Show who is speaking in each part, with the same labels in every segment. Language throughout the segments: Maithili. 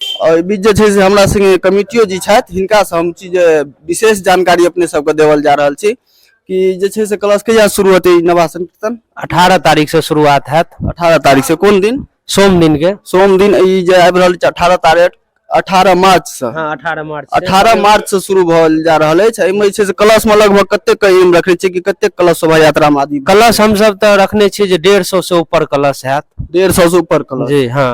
Speaker 1: एहि बीच जे छै से हमरा संगे कमिटियो जी छथि हिनकासँ हम छी जे विशेष जानकारी अपने सबके देवल जा रहल छी कि जे छै से क्लास कहिया शुरू हेतै ई नवासन कीर्तन अठारह तारीख से शुरुआत हैत अठारह तारीख से कोन दिन सोम दिन के सोम दिन ई जे आबि रहल छै अठारह तारीख अठारह मार्च से हाँ अठारह मार्च से। अठारह मार्च से शुरू भल जा रहल अछि एहिमे जे छै से क्लास मे लगभग कतेक के एम रखने छियै कि कतेक क्लास शोभा यात्रा मे आदमी कलश हमसब तऽ रखने छियै जे डेढ़ सौ से ऊपर कलश हैत डेढ़ सौ से ऊपर क्लास जी हाँ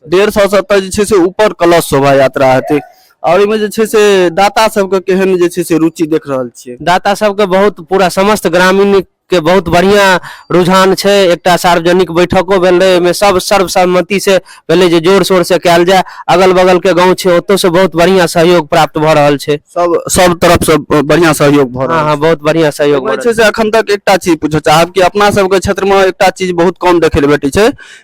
Speaker 1: डेढ़ सौ से तऽ जे छै से ऊपर कलश शोभा यात्रा हेतै और एहिमे जे छै से दाता सबके केहन जे छै से रुचि देख रहल छियै दाता सबके बहुत पूरा समस्त ग्रामीण के बहुत बढ़िया रुझान छै एकटा सार्वजनिक बैठको भेल रहे ओहिमे सब सर्वसम्मति से भेलै जे जोर शोर से कयल जाय अगल बगल के गाँव छै ओतौ से बहुत बढ़िया सहयोग प्राप्त भऽ रहल छै सब सब तरफ से बढ़िया सहयोग भऽ रहल हँ हँ बहुत बढ़िया सहयोग भऽ एहिमे रहल छै से अखन तक एकटा चीज पूछऽ चाहब कि अपना सबके क्षेत्र मे एकटा चीज बहुत कम देखै लए भेटै छै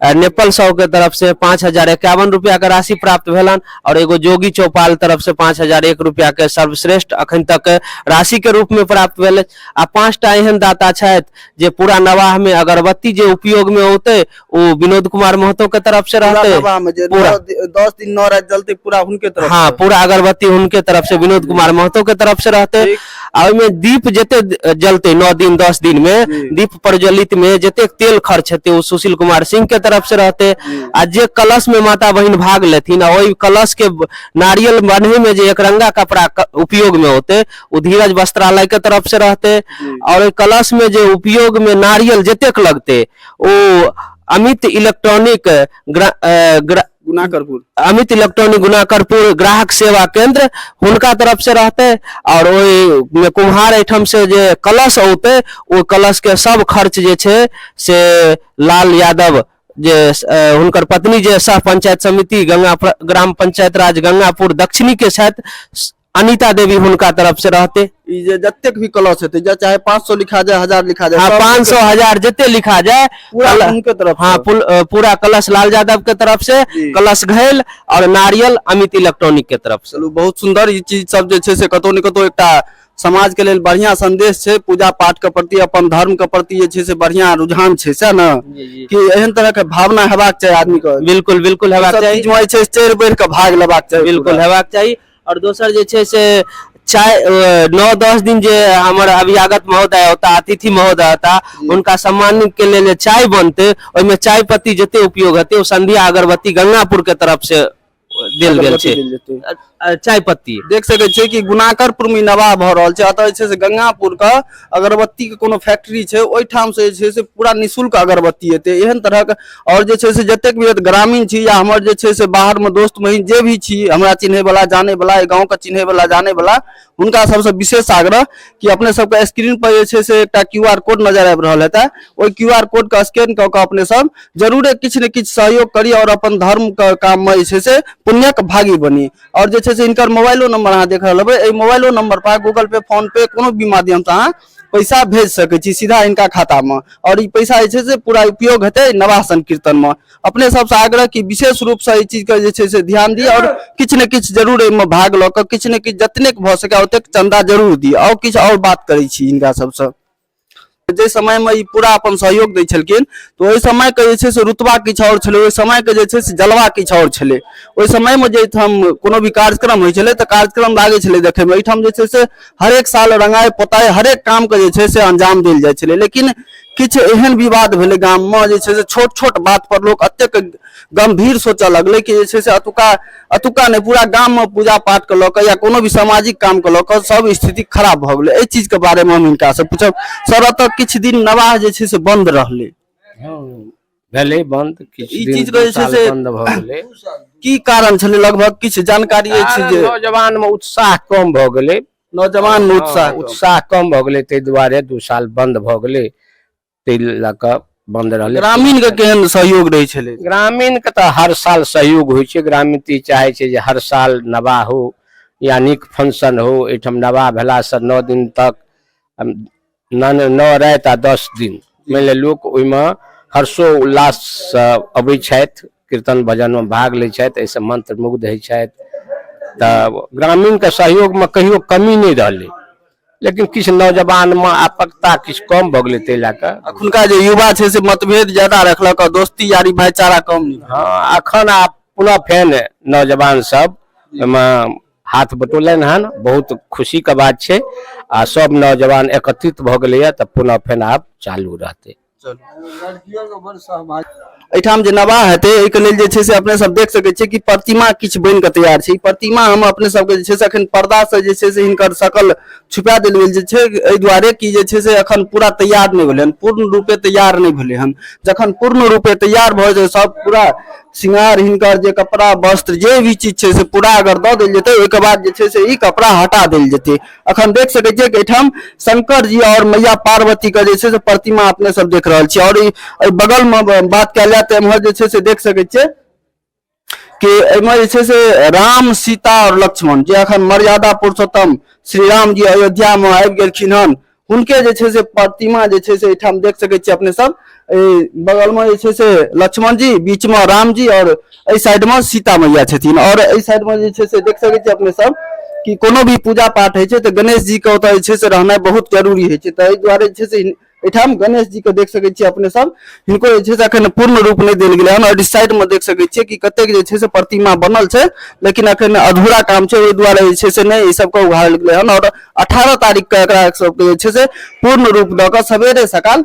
Speaker 1: अ, नेपाल साहु के तरफ से पाँच हजार एकावन रुपया के राशि प्राप्त भेलन और एगो जोगी चौपाल तरफ से पाँच हजार एक रुपया के सर्वश्रेष्ठ अखन तक राशि के रूप में प्राप्त भेल आ पाँचटा एहन दाता छथि जे पूरा नवाह में अगरबत्ती जे उपयोग में औते ओ विनोद कुमार महतो के तरफ से पूरा रहते नवाह में जे पूरा। नौ दि- दस दिन नौ रात जलते पूरा हुनके तरफ हाँ से। पूरा अगरबत्ती उनके तरफ से विनोद कुमार महतो के तरफ से रहते ठीक। आ ओहिमे दीप जते द- जलते नौ दिन दस दिन में जी। दीप प्रज्वलित में जते तेल खर्च हेते ओ सुशील कुमार सिंह के तरफ से रहते आ जे कलश में माता बहिन भाग लेथिन आ ओहि कलश के ब- नारियल बन्हे में जे एक रंगा कपड़ा क- उपयोग में होते ओ धीरज वस्त्रालय के तरफ से रहते और ओहि कलश में जे उपयोग में नारियल जतेक लगते ओ अमित इलेक्ट्रॉनिक ग्रा, अ, ग्रा, गुनाकरपुर अमित इलेक्ट्रॉनिक गुनाकरपुर ग्राहक सेवा केंद्र हुनका तरफ से रहते और ओहि में कुम्हार एहिठाम से जे कलश औते ओ कलश के सब खर्च जे छै से लाल यादव जे अ, हुनकर पत्नी जे सह पंचायत समिति गंगा प्र- ग्राम पंचायत राज गंगापुर दक्षिणी के छथि स- अनिता देवी हुनका तरफ से रहते ई जे जतेक भी क्लॉस हेतै जे चाहे 500 लिखा जाए 1000 लिखा जाए हाँ सब पाँच सौ हजार जितने लिखा जाए पूरा कल- उनके तरफ हाँ से। पुल- अ, पूरा कलश लाल यादव के तरफ से जी। कलश घैल और नारियल अमित इलेक्ट्रॉनिक के तरफ से चलू बहुत सुंदर ई चीज सब जे छै से कतौ ने कतौ एकटा समाज के लेल बढ़िया संदेश छै पूजा पाठ के प्रति अपन धर्म के प्रति जे छै से बढ़िया रुझान छै सएह ने कि एहन तरह के भावना हेबाक चाही आदमी के बिल्कुल बिल्कुल हेबाक सब चाही चीज में जे छै से चढ़ि बढ़ि के भाग लेबाक चाही बिल्कुल पूरा। हेबाक चाही आओर दोसर जे छै से चाय नओ दस दिन जे हमर अभ्यागत महोदय होता अतिथि महोदय होता हुनका सम्मान के लेल जे चाय बनतै ओहिमे चाय पत्ती जते उपयोग हेतै ओ संध्या अगरबत्ती गंगापुर के तरफ से देल गेल छै देल जेतै। अ- अ- चाय पत्ती देख सकै छियै कि गुनाकरपुर मे ई नवाह भऽ रहल छै अतः जे छै से गंगापुर के अगरबत्ती के कोनो फैक्ट्री छै ओहिठाम से जे छै से पूरा निःशुल्क अगरबत्ती हेतै एहन तरहक आओर जे छै से जतेक भी ग्रामीण छी या हमर जे छै से बाहरमे दोस्त महीन जे भी छी हमरा चिन्हैवला जानैवला एहि गाँवके चिन्हैवला जानैवला हुनका सबसँ विशेष आग्रह कि अपने सबके स्क्रीन पर जे छै से एकटा क्यू आर कोड नजर आबि रहल हेतै ओहि क्यू आर कोडके स्कैन कऽ कऽ अपने सब जरूरे किछु ने किछु सहयोग करी आओर अपन धर्मके काममे जे छै से पुण्यक भागी बनी आओर जे छै से हिनकर मोबाइलो नंबर अहाँ देख रहल हेबै एहि मोबाइलो नंबर पर गूगल पे फोन पे कोनो भी माध्यम से अहाँ पैसा भेज सकैत छी सीधा हिनका खाता में और ई पैसा जे छै से पूरा उपयोग हेतै नवाह संकीर्तन में अपने सबसे आग्रह कि विशेष रूप से एहि चीज के जे छै से ध्यान दिअ और किछु ने किछु जरूर एहिमे भाग लऽ कऽ किछु ने किछु जतनेक भऽ सकै ओतेक चंदा जरूर दिअ और किछु और बात करै छी हिनका सबसँ जाहि समयमे ई पूरा अपन सहयोग दै छलखिन तऽ ओहि समयके जे छै से रुतबा किछु आओर छलै ओहि समयके जे छै से जलवा किछु आओर छलै ओहि समयमे जे एहिठाम कोनो भी कार्यक्रम होइ छलै तऽ कार्यक्रम लागै छलै देखैमे एहिठाम जे छै से हरेक साल रंगाइ पोताइ हरेक कामके जे छै से अंजाम देल जाइ छलै लेकिन किछु एहन विवाद भेलै गाममे जे छै से छोट छोट बातपर लोक एतेक गम्भीर सोचय लगलै कि जे छै से एतुका अतुका नहि पूरा गाम में पूजा पाठ के लऽ या कोनो भी सामाजिक काम के लऽ सब स्थिति खराब भऽ गेलै एहि चीज के बारे में हम हिनका से पूछब सर अतः किछु दिन नवाह जे छै से बंद रहलै हँ, भेलै बंद किछु ई दिन चीज दू कहै छै साल से- बंद भऽ गेलै की कारण छलै लगभग किछु जानकारी अछि कारण जे नौजवान में उत्साह कम भऽ गेलै नौजवान में उत्साह हँ, उत्साह कम भऽ गेलै ताहि दुआरे दू साल बंद भऽ गेलै ताहि लऽ कऽ बन्द रहलै ग्रामीण के केहन सहयोग रहै छलै ग्रामीण के तऽ हर साल सहयोग होइ छै ग्रामीण तऽ ई चाहै छै जे हर साल नवाह हो या नीक फंक्शन हो एहिठाम नवाह भेलासँ नओ दिन तक अम, नओ नओ राति आ दस दिन मानि लिअ लोक ओहिमे हर्षो उल्लाससँ अबै छथि कीर्तन भजनमे भाग लै छथि एहिसँ मंत्रमुग्ध होइ छथि तऽ ग्रामीणके सहयोगमे कहियो कमी नहि रहलै लेकिन किछु नौजवानमे आपकता किछु कम भऽ गेलै ताहि लए कऽ अखुनका जे युवा छै से मतभेद ज्यादा रखलक और दोस्ती यारी भाईचारा कम नहीं हँ अखन आब पुनः फेन नौजवान सब ओहिमे हाथ बटोलनि हन बहुत खुशीके बात छै आ सब नौजवान एकत्रित भऽ गेलैए तऽ पुनः फेन आब चालू रहतै एहिठाम जे नवाह हेतै एहिके लेल जे छै से अपने सब देख सकैत छियै कि प्रतिमा किछु बनि कऽ तैयार छै ई प्रतिमा हम अपने सबके जे छै से एखन पर्दासँ जे छै से हिनकर शकल छुपा देल गेल जे छै एहि दुआरे कि जे छै से एखन पूरा तैयार नहि भेलै हन पूर्ण रूपे तैयार नहि भेलै हन जखन पूर्ण रूपे तैयार भऽ जेतै सब पूरा श्रृंगार हिनकर जे कपड़ा वस्त्र जे भी चीज छै से पूरा अगर दऽ देल जेतै ओहिके बाद जे छै से ई कपड़ा हटा देल जेतै अखन देख सके छियै कि एठाम शंकर जी और मैया पार्वती के जैसे से प्रतिमा अपने सब देख रहल छी और बगल में बात कल जाए तो एम्हर जैसे से देख सके छियै कि एहिमे जे छै से राम सीता और लक्ष्मण जे अखन मर्यादा पुरुषोत्तम श्री राम जी अयोध्या में आबि गेलखिन हन हुनके जे छै से प्रतिमा जे छै से एहिठाम देख सके छियै अपने सब एहि बगलमे जे छै से लक्ष्मण जी बीचमे रामजी आओर एहि साइडमे सीता मैया छथिन आओर एहि साइडमे जे छै से देख सकै छी अपने सब कि कोनो भी पूजा पाठ होइ छै तऽ गणेश जी के ओतऽ जे छै से रहनाइ बहुत जरूरी होइ छै तऽ एहि दुआरे जे छै से हिन- एहिठाम गणेश जी के देख सकै छियै अपने सब हिनको जे छै से अखन पूर्ण रूप नहि देल गेलै हन आओर इस साइड मे देख सकै छियै कि कतेक जे छै से प्रतिमा बनल छै लेकिन अखन अधूरा काम छै ओहि दुआरे जे छै से नहि ई सबके उघाड़ल गेलै हन आओर अठारह तारीख के एकरा सबके जे छै से पूर्ण रूप दऽ कऽ सवेरे सकाल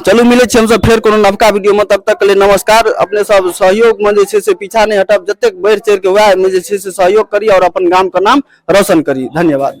Speaker 1: चलू मिलै छी हमसभ फेर कोनो नवका वीडियोमे तब तक लेल नमस्कार अपने सब सहयोगमे जे छै से पीछा नहि हटब जतेक बढ़ि चढ़ि कऽ उएहमे जे छै से सहयोग करी आओर अपन गामके नाम रोशन करी धन्यवाद